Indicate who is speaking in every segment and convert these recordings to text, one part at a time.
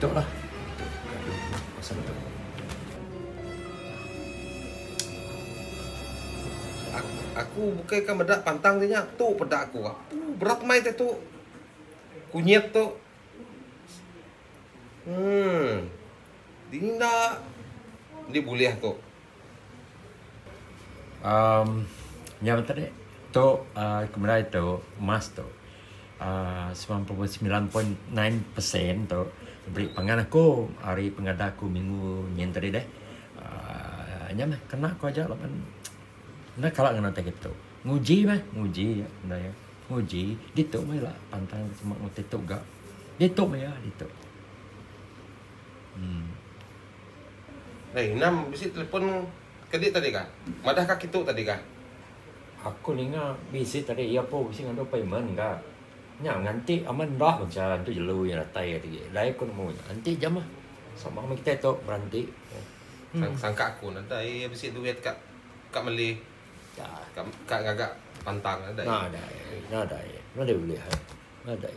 Speaker 1: Tok lah.
Speaker 2: Aku bukai ka meda pantang ti nya tu peda aku kak. Berat mai te tu kunyit tu. Emm. Dingin enda. Indi bulih tu.
Speaker 1: Amm nya meh tadi tu aaa ke merai tu emas tu aaa semilan puluh semilan poin nine persen tu beri pangan aku ari pengadah aku minggu nyin tadi deh aaa nya meh kena ku aja laban enda kala ngena utai ke ditu. Nguji meh nguji nya enda iya nguji ditu meh ila pantang deh sema meh ti tu ga ditu meh iya ditu. Em.
Speaker 2: Dei, endang bisi telefon ke di tadi kah? Madah ka kitu tadi kah? Aku
Speaker 1: ninga bisi tadi iya pun bisi ngadu payment ga. Nya nganti amat enda mah cha tu jelu iya datai iya tadi. Dai ku nemu nya. Enti ja mah sama meh kitai tu beranti. Sang sangka
Speaker 2: aku ne dai iya bisi duit ka ka meli ka
Speaker 1: ka ngaga
Speaker 2: pantang ne dai. Nadai
Speaker 1: nadai nadai ulih ai nadai.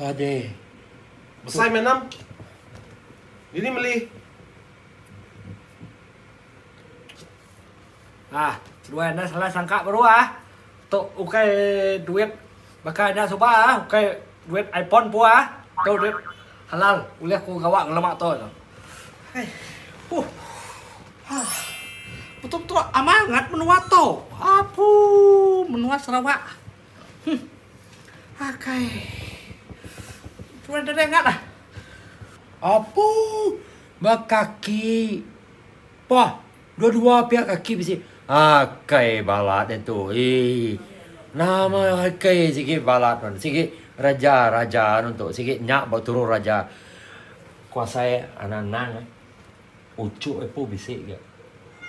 Speaker 1: Aduh. Besai
Speaker 2: meh enam. Dini meli.
Speaker 3: Ah, dua enda salah sangka baru ah. Tu ukai duit baka enda suba ah, ukai duit iPhone pun ah. Tu duit halal ulih ku gawa ngelama tu. Hai. Huh. Ha. Betul-betul amangat menua tu. Apu menua Sarawak. Huh. Akai. Tuan deka dai ngatlah. Apu.
Speaker 1: Bekaki. Pah. Dua-dua pia kaki bisi. Akai balat dia tu. Ii. Nama akai sigi balat nuan. Sigi reja raja nuan tu. Sigi nya ba turu raja. Kuasai anak anang eh. Uchu ipu bisi ga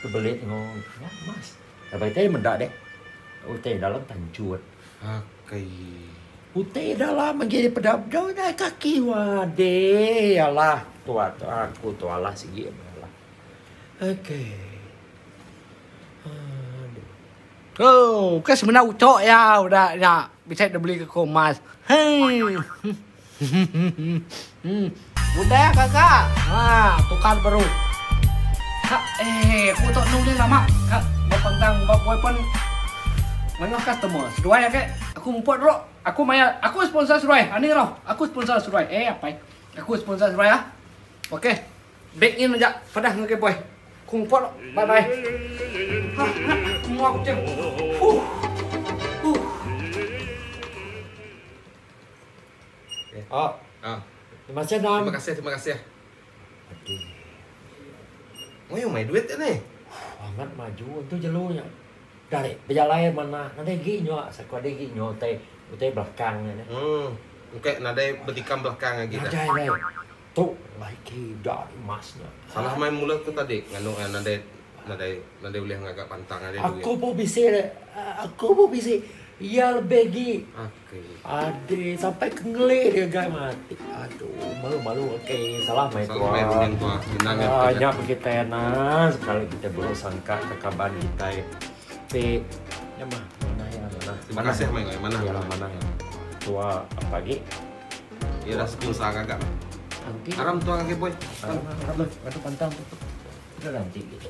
Speaker 1: tebelit engo nya emas. Laban iti meda deh utai dalam tanchut. Akai.
Speaker 2: Utai
Speaker 1: dalam agi dipeda bedau nya ai kaki wade alah tua aku tu alah sigi alah. Akai.
Speaker 3: Aduh. Ooh, ke semina uchu iya udah nya bisi dibeli ke ku emas. Hei. Hmmm udah gaga ha tukar baru. Ha ehh aku tu anu ulih lama ka bepanggang ba boyfriend manyoh customer seduai age aku muput dulu aku maya aku sponsor seduai ani rau aku sponsor seduai ehh apai aku sponsor seduai ah ok bank in aja pedah ngagai boy aku muput dulu bye bye ha ha mua kuching huh huh.
Speaker 1: Okey. Oh. Ha. Terima kasih, Nan. Terima kasih, terima kasih.
Speaker 2: Aduh. Mai mai duit tu ni. Sangat maju
Speaker 1: tu jelunya. Dari bejalai mana nanti gi nyo sako di gi nyo te te belakang ni. Hmm.
Speaker 2: Okey, nadai betikam belakang lagi dah. Nadai lagi. Tu
Speaker 1: mai ki dah emas nya. Salah mai mula tu
Speaker 2: tadi nganu eh, nadai nadai nadai
Speaker 1: ulih ngaga
Speaker 2: pantang ari duit. Aku
Speaker 1: pun bisi
Speaker 2: aku
Speaker 1: pun
Speaker 2: bisi.
Speaker 1: Iya lebih gi. Ha.
Speaker 2: Ade
Speaker 1: sampai ke ngelik dia gai mati. Aduh, malu-malu okey. Salah mai tua. Salah mai tua.
Speaker 2: Minang ya.
Speaker 1: Ah,
Speaker 2: nya kita ya
Speaker 1: nah. Sekali kita buruk sangka ke kaban kita. Ti, ya mah. Mana ya mana. Mana sih mai gai mana?
Speaker 2: Ya mana ya.
Speaker 1: Tua apa lagi? Ya dah
Speaker 2: sepuluh sang agak.
Speaker 1: Aram tua
Speaker 2: lagi boy.
Speaker 1: Aram, aram.
Speaker 2: Aduh
Speaker 1: pantang tu.
Speaker 2: Dah nanti
Speaker 1: gitu.